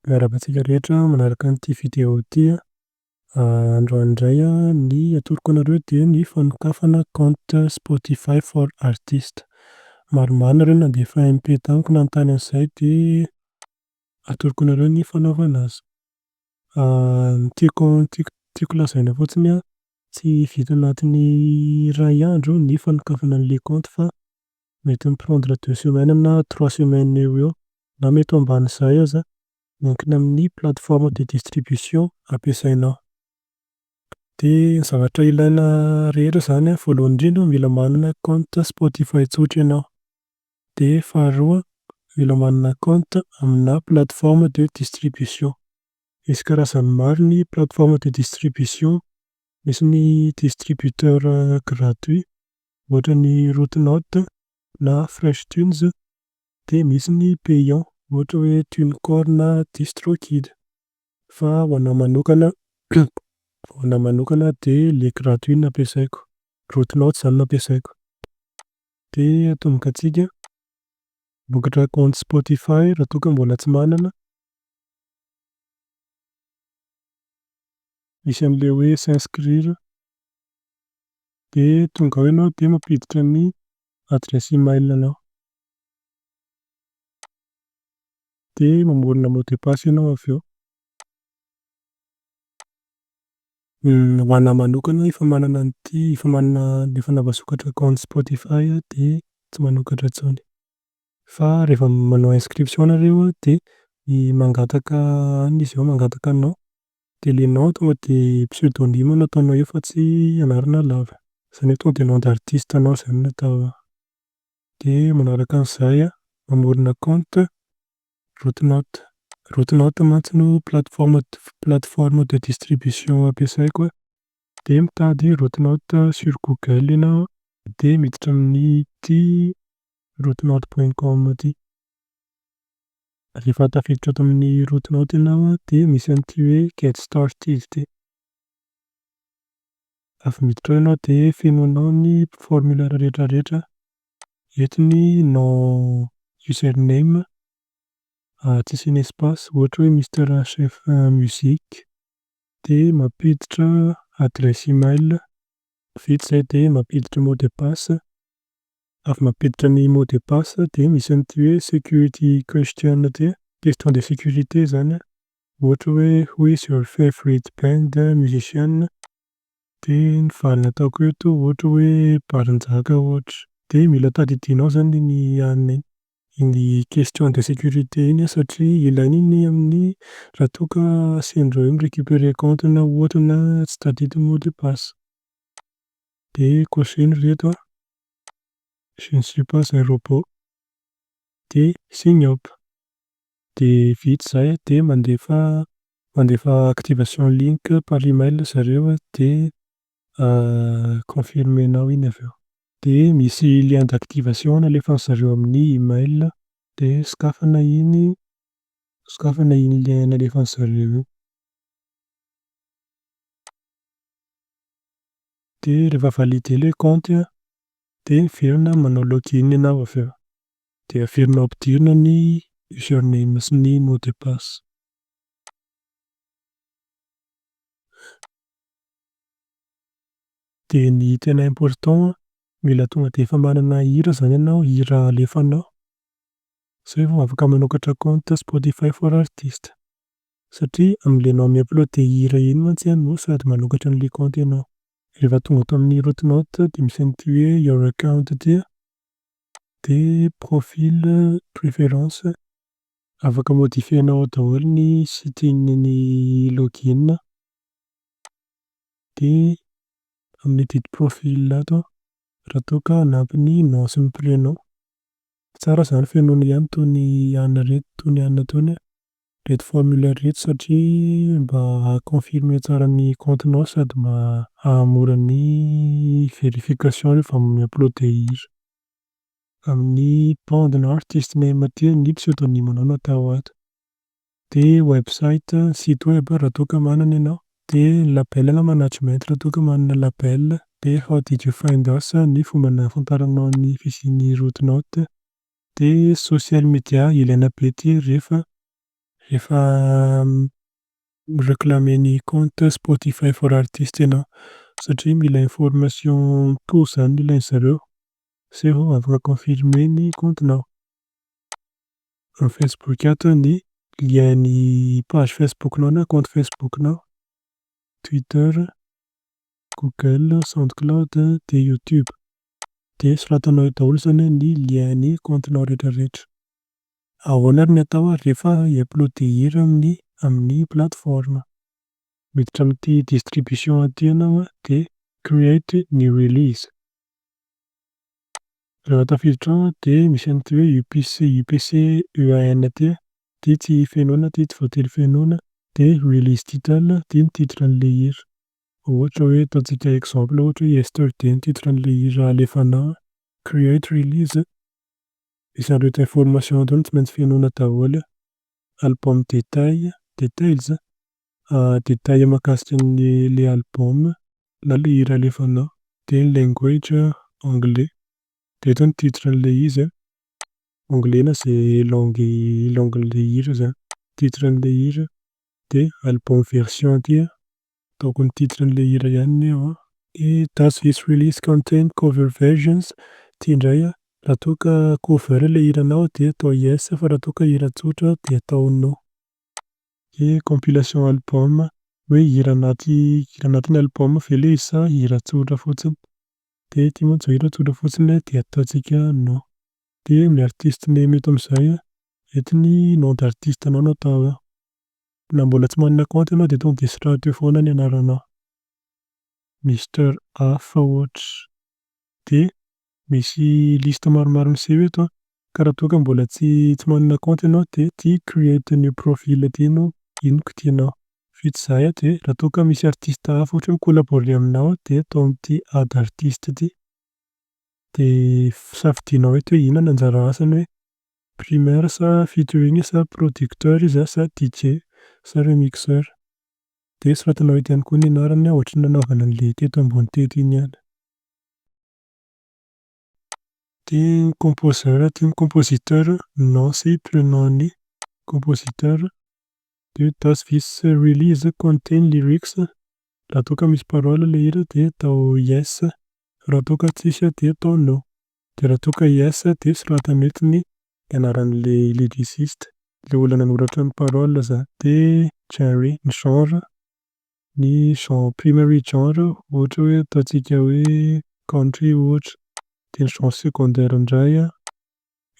Miarahaba antsika rehetra manaraka an'ity video ity a. Androany indray a, ny atoroko anareo dia ny fanokafana compte Spotify for artist. Maromaro nareo nandefa MP tamiko nanontany an'izay dia atoroko anareo ny fanaovana azy. Ny tiako, ny tiako, ny tiako lazaina fotsiny a, Tsy vita anatin'ny iray andro ny fanokafana ny leconte fa mety mi-prendre deux semaines na trois semaines eo ho eo na mety ho ambanin'izay aza, miankina amin'ny plateforme de distribution ampiasainao. Dia ny zavatra ilaina rehetra izany an, voalohany indrindra mila manana compte Spotify tsotra ianao, dia faharoa mila manana compte amina plateforme de distribution. Misy karazany maro ny plateforme de distribution, misy ny distributeur gratuit ohatra ny Rootnote na Freshtunes dia misy ny payant ohatra hoe Tunecore na Distrokid fa ho anah manokana ho anah manokana dia le gratuit no ampiasaiko, Rootnote izany no ampiasaiko. Dia atomboka antsika hamokatra compte Spotify raha toa ka mbola tsy manana Misy an'ilay hoe s'inscrire dia tonga ao ianao dia mampiditra ny adresse email anao dia mamorona mot de passe ianao avy eo. Ho anah manokana efa manana an'ity, efa manana, efa navasokatra compte Spotify aho dia tsy manokatra intsony. Fa rehefa manao inscription nareo dia mangataka anona izy eo mangataka nom dia ilay nom tonga dia pseudonyme no ataonao eo fa tsy anarana lava. Izany hoe tonga dia nom d'artiste anao izany no atao eo. Dia manaraka an'izay mamorona compte Rootnote. Rootnote mantsy no plateforme plateforme de distribution ampiasaiko a. Dia mitady Rootnote sur google ianao dia miditra amin'ity Route-note point com ity. Rehefa tafiditra ato amin'ny route-note ianao an, dia misy an'ity hoe get started ity. Avy miditra ao ianao dia fenoinao ny formulaire rehetrarehetra. Eto ny nom user name tsy asiana espace, ohatra hoe Mister HF Musique. Dia mampiditra adresse email. Vita izay dia mampiditra mot de passe. avy mampiditra ny mot de passe dia misy an'ity hoe security question ity, question de sécurité izany, ohatra hoe who is your favorite band, musician, dia ny valiny ataoko eto ohatra hoe Barinjaka ohatra, dia mila tadidinao izany iny an iny question de sécurité iny satria ilaina iny amin'ny raha toa ka asian'ireo hoe mi-récupérer compte na ohatra na tsy tadidy ny mot de passe, dia cocher-ny ry reto an. Je ne suis pas un robot. Dia sign up. Dia vita izay dia mandefa mandefa activation link par email ry zareo dia confirmer-nao iny avy eo. Dia misy lien d'activation nalefan'ny zareo amin'ny email dia sokafana iny sokafana iny lien nalefan'ny zareo iny. Dia rehefa valide ilay kaonty an, dia miverina manao log in ianao avy eo. Dia averinao ampidirina ny user name sy ny mot de passe. Dia ny tena important an, mila tonga dia efa manana hira izany ianao, hira alefanao. Izay vao afaka manokatra kaonty Spotify for artist. Satria am le nom mi upload hira iny mantsy an no sady manokatra an le compte enao. Rehefa tonga ato amin'ny route note dia misy an'ity hoe your account ity an, dia profil, preference, afaka modifier-nao ao daholo ny setting ny login an, dia amin'ny edit profil ato an raha toa ka hanampy ny nom sy ny prénom, tsara zany fenoina ihany toy ny anona reto toy ny anona tony an, reto formulaire reto satria mba haha confirmer tsara ny compte nao sady mba hahamora ny verification rehefa mi uploader hira. Amin'ny bande na artist name aty ny pseudonyme nao no atao ato. Dia website, site web, raha toa ka manana ianao. Dia ny label na management raha toa ka manana label. Dia how did you find us ny fomba nahafantaranao ny fisian'ny route note. De social media ilaina be ity rehefa rehefa mi-reclamer ny compte Spotify for artist ianao satria mila information mitohy zany ny ilainy zareo sao ianao vao afaka confirmer ny compte nao. Am Facebook ato ny lien ny page Facebook nao na compte Facebook nao, Twitter, Google, Soundcloud de YouTube. Dia soratanao eo daholo izany hoe ny lien ny compte-nao retraretra. Ahoana ary ny atao ary rehefa hi-uploader hira amin'ny amin'ny plateforme? Miditra amin'ity distribution ity ianao an, dia create new release. Rehefa tafiditra ao dia misy an'ity hoe upc upc EAN ity an, ity tsy fenoina ity tsy voatery fenoina, dia release title ity ny titre an'ilay hira. Ohatra hoe ataontsika exemple ohatra hoe Yesterday ny titre an'ilay hira alefana ao, create release misy an'ireto information ireto no tsy maintsy fenoina daholo, album détail, details, détail mahakasika ny ilay album na ilay hira alefana ao, dia ny language anglais dia eto ny titre an'ilay izy an, anglais na izay langue langue an'ilay hira izany, titre an'ilay hira, de album version aty a. Ataoko ny titre an'ilay hira ihany ny eo an. He Does this release contain cover versions? Ty indray an, raha toa ka cover ilay hiranao dia atao yes fa raha toa ka hira tsotra dia atao no. He Compilation album, hoe hira anaty hira anatin'ny album ve ilay izy sa hira tsotra fotsiny? Dia ity mantsy izao hira tsotra fotsiny dia ataontsika no. Dia amin'ny artiste memo eto amin'izay an, eto ny nom d'artiste anao no atao eo. Na mbola tsy manana compte ianao dia tonga dia soraty eo foana ny anaranao. Mister Hafa ohatra. Dia misy liste maromaro miseho eto an, ka raha toa ka mbola tsy tsy manana compte ianao dia ity create a new profile ity no ino kitianao. Vita izay an, dia raha toa ka misy artiste hafa ohatra hoe mi-collaborer aminao dia atao amin'ity add artiste ity. Dia safidianao hoe eto hoe inona ny anjara asany hoe primaire sa featuring sa producteur izy sa DJ sa remixeur. Dia soratanao eto ihany koa ny anarany ohatry ny nanaovana an'ilay teto ambony teto iny ihany. Ity ny composeur ity ny compositeur, nom sy prenom ny compositeur. Dia hoe does this release contain lyrics Raha toa ka misy parole ilay hira dia atao yes, raha toa ka tsisy dia atao no. Dia raha toa ka yes dia soratana eto ny anaran'ilay lyriciste, ilay olona nanoratra ny parole zany. Dia Jerry, ny genre, ny genre primary genre ohatra hoe ataontsika hoe country ohatra. Dia ny genre secondaire indray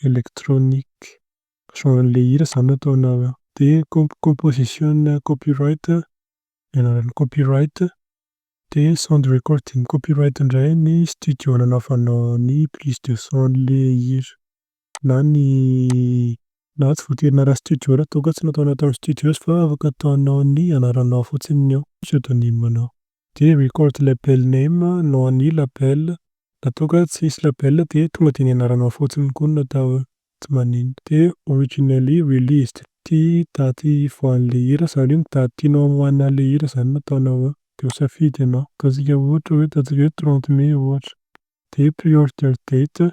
electronic. Genre-n'ilay hira izany no ataonao eo. Dia composition copyright ny anaran'ny copyright dia sound recording copyright indray ny studio nanaovanao ny prise de son le hira na ny na tsy voatery anarany studio raha toa ka tsy nataonao tamin'ny studios fa afaka ataonao ny anaranao fotsiny ny ao pseudonyme nao dia record label name no an'ny label raha toa ka tsy hisy label dia tonga dia ny anaranao fotsiny koa no atao eo. Tsy maninona. Dia originally released ity daty hivoahan'ilay hira sa hoe ny daty tianao hamoahan'ilay hira izany no ataonao eo? Dia ho safidy ianao. Ataontsika ohatra hoe ataontsika hoe trente mai ohatra. Dia pre-order date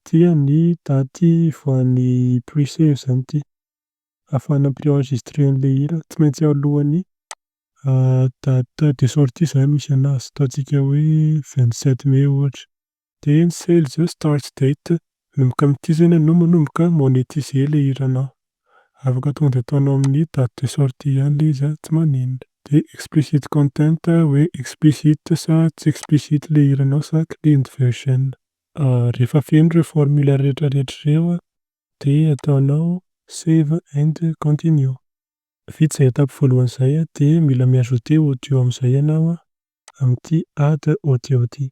dia ny daty hivoahan'ny pre-save izany ity. Ahafahana mi-pre-enregistrer an'ilay hira. Tsy maintsy alohan'ny date de sortie izany misy an'azy. Ataontsika hoe vingt sept mai ohatra. Dia ny sales start date manomboka amin'ity zany anao manomboka monetiser le hiranao. Afaka tonga dia ataonao amin'ny date de sortie ihany le izy an, tsy maninona. Dia explicit content hoe explicit sa tsy explicit le hiranao sa cleaned version. Rehefa feno ireo formulaire rehetra rehetra ireo an, dia ataonao save and continue. Vita izay étape voalohany izay an, dia mila mi-ajouter audio amin'izay ianao an, amin'ity add audio ity.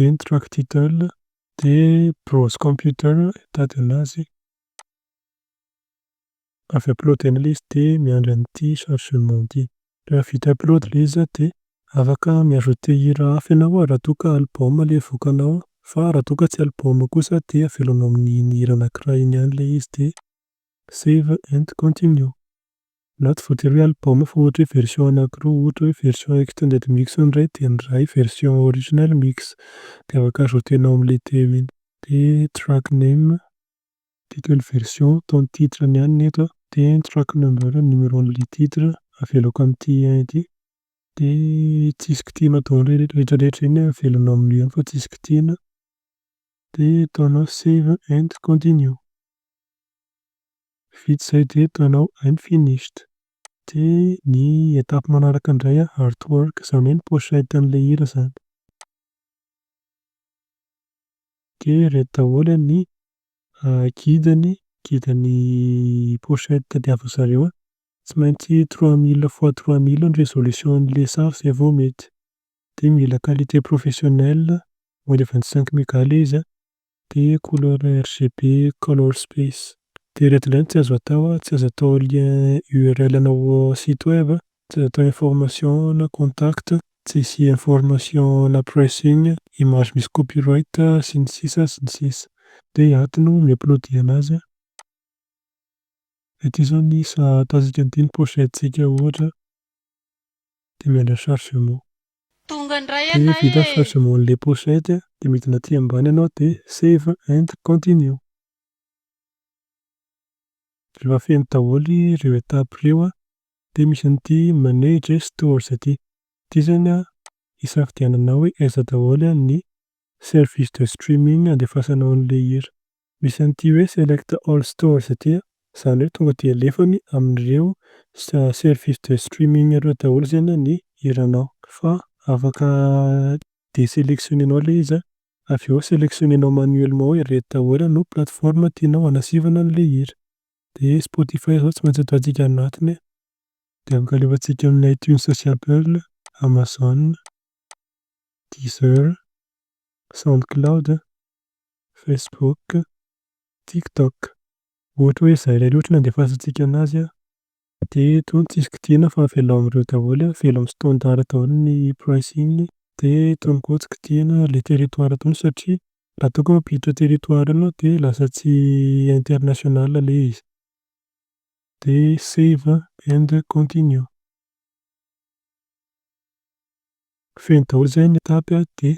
Bing Truck Title dia Browse Computer hitady anazy. Avy upload-na ilay izy dia miandry an'ity chargement ity. Raha vita upload ilay izy dia afaka mi-ajouter hira hafa ianao raha toa ka album ilay avoakanao fa raha toa ka tsy album kosa dia avelanao amin'iny hira anankiray iny ihany ilay izy dia save and continue. Naho tsy voatery hoe album fa ohatra hoe version anakiroa ohatra hoe version extended mix ny iray dia ny iray version original mix dia afaka ajouter-nao amin'ilay teo iny. Dia track name, title version atao ny titre ny an'ny eto an. Dia ny track number ny numeron'ilay titre avelako amin'ity un ity. Dia tsisy kitihina daholo ilay rehetrarehetra iny an, avelonao amin'io ihany fa tsisy kitihina. Dia ataonao save and continue. Vita izay dia tanao Unfinished. Dia ny étape manaraka indray an, artwork, izany hoe ny pochette an'ilay hira izany. Dia ireto daholo an ny guide ny guide ny pochette tadiavin-dry zareo an. Tsy maintsy trois mille fois trois mille ny résolution an'ilay sary izay vao mety. Dia mila qualité professionnelle, moins de vingt cinq méga ilay izy an. Dia couleur RGB color space. Dia ireto indray no tsy azo atao a, tsy azo atao lien url ana o site web, tsy azo atao information ana contact, tsy hisy information ana pricing, image misy copyright sy ny sisa sy ny sisa. Dia i aty no mi-upload anazy a. Ity izao ny sahatasika an'ity ny pochette-tsika ohatra dia miandry ny chargement. Tonga ndray Dia ianay vita e! chargement anle pochette dia midina aty ambany ianao dia save and continue. Rehefa feno daholo ireo étapes ireo dia misy an'ity manage stores ity. Ity zany hisafidiananao hoe aiza daholo ny service de streaming andefasanao an'ilay hira. Misy an'ity hoe select all stores ity a, izany hoe tonga dia alefany amin'ireo services de streaming ireo daholo zany ny hiranao, fa afaka de-selectionner-nao ilay izy avy eo selectionner-nao manuellement hoe ireto daholo no plateforme tianao hanasivana an'ilay hira, dia spotify izao tsy maintsy ataontsika any anatiny e, dia afaka alefantsika amin'ny itunes sy apple, amazon, deezer, soundcloud, Facebook, TikTok. Ohatra hoe izay ilay loto nandefasantsika anazy an, dia eto ny tsisy kidiana fa avelao amin'ireo daholo, avelao amin'ny standard daholo ny pricing, dia itony koa tsy kidiana ary ilay territoire itony satria raha toa ka mampiditra territoire ianao dia lasa tsy international ilay izy. Dia save and continue. Feno daholo izay ny étape dia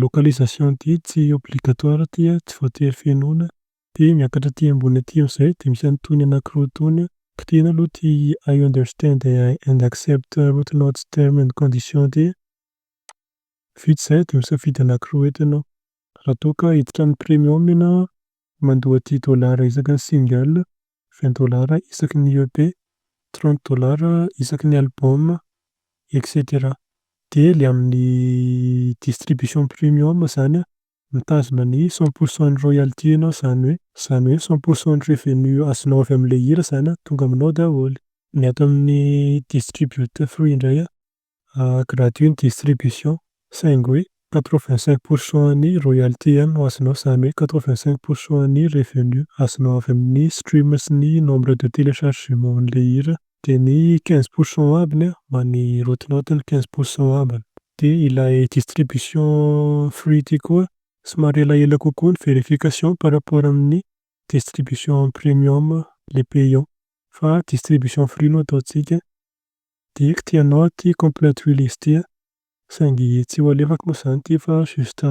Localisation ity tsy obligatoire ity a, tsy voatery fenoina. Dia miakatra aty ambony aty amin'izay dia misy an'itony anankiroa itony a, kitihina aloha ity I understand and accept route notes terms and conditions ity a. Vita izay dia misafidy anankiroa eto ianao. Raha toa ka hiditra amin'ny premium ianao a, Mandoa dix dollars isaky ny single, vingt dollars isaky ny EP, trente dollars isaky ny album, etc. Dia le amin'ny distribution premium zany an, mitazona ny cent pour cent ny royalty enao zany hoe, zany hoe cent pour cent ny revenu azonao avy amin'le hira zany an, tonga aminao daholo. Ny ato amin'ny distributor free indray an, a gratuit ny distribution saingy hoe quatre vingt cinq pour cent an'ny royalty ihany no azonao izany hoe quatre vingt cinq pour cent an'ny revenu azonao avy amin'ny stream sy ny nombre de telechargement an'ilay hira dia ny quinze pour cent ambiny a mba ny route note ny quinze pour cent ambiny dia ilay distribution free ity koa somary elaela kokoa ny verification par rapport amin'ny distribution premium le payant fa distribution free no ataontsika. Dirty ianao aty complète io list io saingy tsy ho alefako moa izany ity fa juste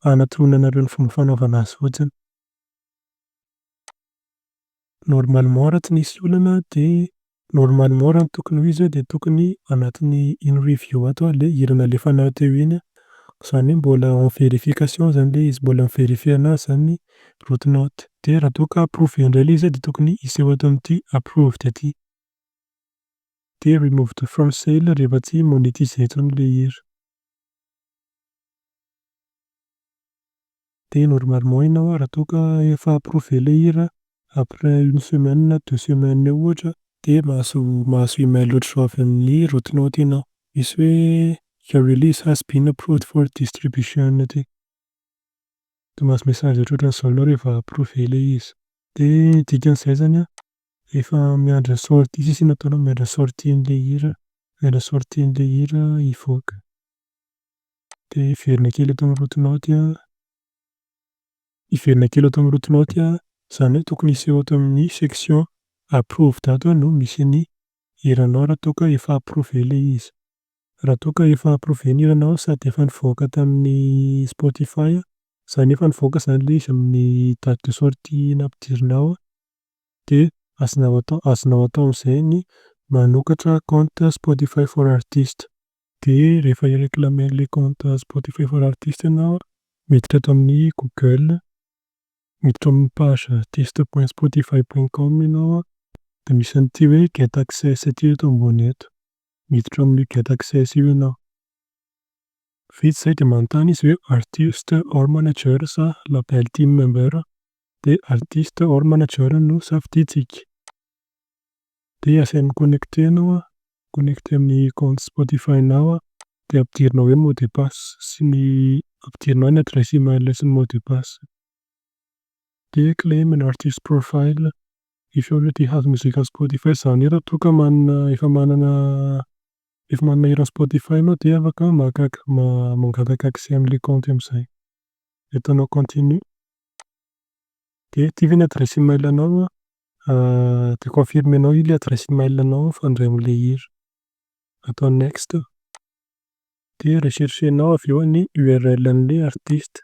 hanatoroana anareo ny fomba fanaovana azy fotsiny. Normalement raha tsy nisy olana dia normalement raha ny tokony ho izy dia tokony anatin'ny iny review ato ary ilay hira nalefanao teo iny an. Izany hoe mbola en vérification izany ilay izy, mbola mi-verifier anazy izany ny route note. Dia raha toa ka approved indray ilay izy dia tokony hiseho ato amin'ity approved ity. Dia remove the from sale rehefa tsy monetiser intsony ilay hira. Dia normalement ianao raha toa ka efa approuver ilay hira après une semaine na deux semaines eo ohatra dia mahazo mahazo email ohatr'izao avy amin'ny route-note ianao. Misy hoe your release has been approved for distribution aty. Dia mahazo message ohatrohatran'izao ianao rehefa approuver ilay izy. Dia ny dikan'izay izany an, Efa miandry sortie sisa iny ataonao miandry sortie an'ilay hira miandry sortie an'ilay hira hivoaka dia hiverina kely eto amin'ny route naute an, hiverina kely eto amin'ny route naute an, izany hoe tokony hiseho eto amin'ny section approved ato an no misy ny hiranao raha toa ka efa approuvé ilay izy. Raha toa ka efa approuvé ny hiranao sady efa nivoaka tamin'ny spotify an, izany hoe efa nivoaka izany ilay izy amin'ny date de sortie nampidirinao an, dia azonao atao azonao atao amin'izay ny manokatra compte Spotify for artiste. Dia rehefa hi-reclamer an'ilay compte Spotify for artiste ianao, miditra eto amin'ny Google, miditra ao amin'ny page artiste point spotify point com ianao, dia misy an'ity hoe get access ity eto ambony eto, miditra ao amin'io get access io ianao. Vita izay dia manontany izy hoe artist or manager sa label team member dia artiste or manager no safidintsika. Dia asaina mi-connecter ianao an, mi-connecter amin'ny compte Spotify-nao an, dia ampidirinao ao ny mot de passe sy ny, ampidirinao ny adresse email sy ny mot de passe. Dia claim an artist profile if you already have music on Spotify, izany hoe raha toa ka manana, efa manana, efa manana hira Spotify ianao dia afaka maka, mangataka accès amin'ilay kaonty amin'izay. Dia ataonao continue. De ity ve ny adresse email anao an? De confirmenao ilay adresse email anao fa handray an'ilay hira. Atao next. De recherchenao avy eo ny url an'ilay artiste.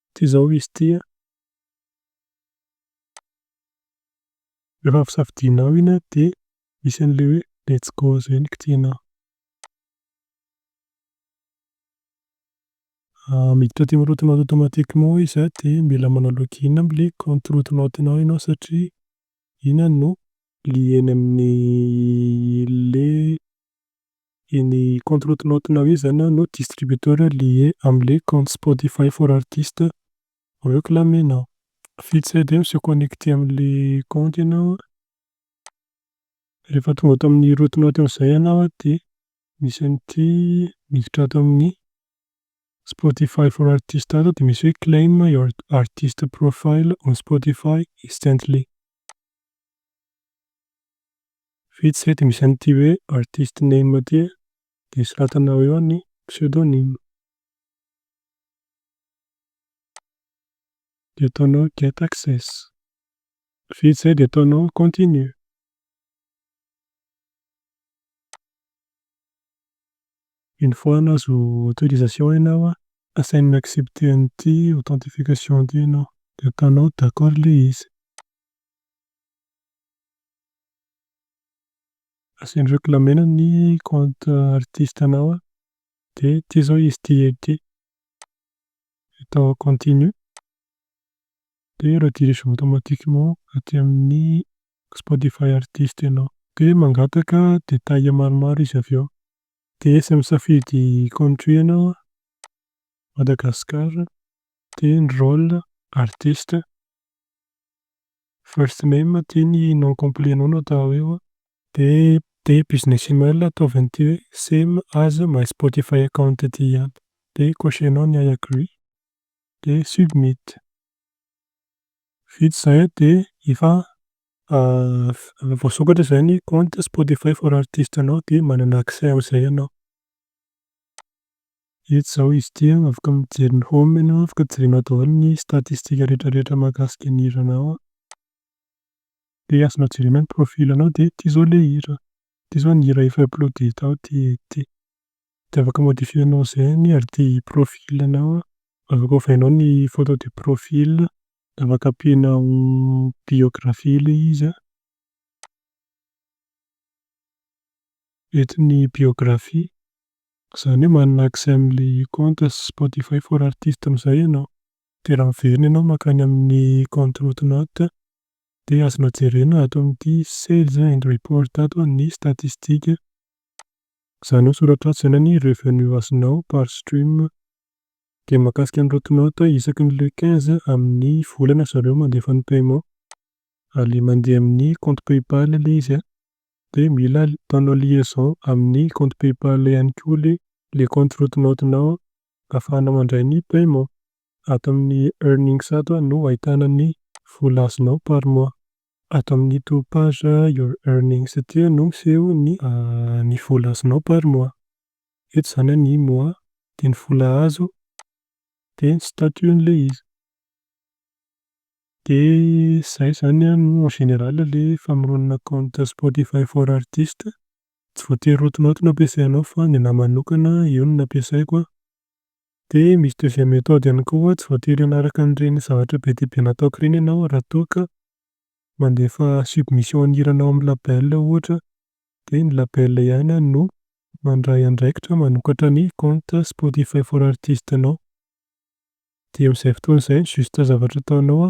Ity izao izy ity an. Rehefa avy safidinao iny an dia misy an'ilay hoe let's go izay no kitihanao. Miditra teny route-nao automatiquement izy an, dia mila manao login amin'ilay compte route-nao-nao ianao satria iny no lien amin'ny ilay iny compte route-nao-nao iny izany no distributeur lié amin'ilay compte Spotify for artistes reclame-nao. Vita izay dia mi-se connecter amin'ilay compte ianao an, rehefa tonga ato amin'ny route-nao teo amin'izay ianao an dia Misy an'ity miditra ato amin'ny Spotify for Artists ato dia misy hoe Claim your artist profile on Spotify instantly. Vita izay dia misy an'ity hoe Artist name ity a. Dia soratanao eo ny pseudonyme. Dia ataonao get access. Vita izay dia ataonao continue. Une fois nahazo autorisation ianao an, asainao mi-accepter an'ity authentification ity ianao, de ataonao d'accord ilay izy. Asainy reclamer ny compte artiste anao an, de ity zao izy ity ety, atao continue. Dia redirige automatiquement aty amin'ny Spotify artiste ianao. Dia mangataka détails maromaro izy avy eo. Dia tsy misafidy country ianao an, Madagascar, dia ny role, artiste, first name, aty ny nom complet anao no atao eo an. Dia dia business email ataovy an'ity hoe same as my Spotify account ity ihany. Dia cocher-nao ny I agree. dia submit. Vita izay dia efa voasokatra izay ny compte spotify for artist anao dia manana accès amin'izay ianao. Eto izao izy ity an, afaka mijery ny home ianao, afaka jerenao daholo ny statistique rehetrarehetra mahakasika ny hiranao. Dia azonao jerena ny profil anao dia ity izao ilay hira. Ity izao ny hira efa uploaded tao ity. De afaka modifier-nao izay anie ary ty profil-nao an, afaka ovainao ny photo de profil, afaka ampianao biographie le izy an, eto ny biographie, izany hoe manana accès amle compte spotify for artiste amin'izay ianao, de raha miverina ianao mankany amin'ny compte route-note de azonao jerena ato amin'ity sales and report ato ny statistique Zany hoe soratra atsy zany anie revenue asinao par stream de makasika ny route note isaky ny le quinze aminy volana zareo mandefa ny paiement ary mande aminy compte paypal le izy de mila ataonao liaison aminy compte paypal ihany koa le le compte route note nao afahana mandray ny paiement ato aminy earnings ato no ahitana ny vola azinao par mois. Ato amin'ito page your earnings ity no miseho ny ny vola azonao par mois. Eto izany ny mois dia ny vola azo dia ny statut n'ilay izy. Dia izay izany aloha en général ilay famoronana compte spotify for artiste. Tsy voatery rotonao ato no ampiasainao fa ny anahy manokana io no nampiasaiko an. Dia misy deuxième méthode ihany koa hoe tsy voatery hanaraka an'ireny zavatra be dia be nataoko ireny ianao raha toa ka mandefa submission ny hiranao amin'ny label ohatra dia ny label ihany no mandray andraikitra manokatra ny compte Spotify for Artist-nao. Dia amin'izay fotoana izay ny juste zavatra ataonao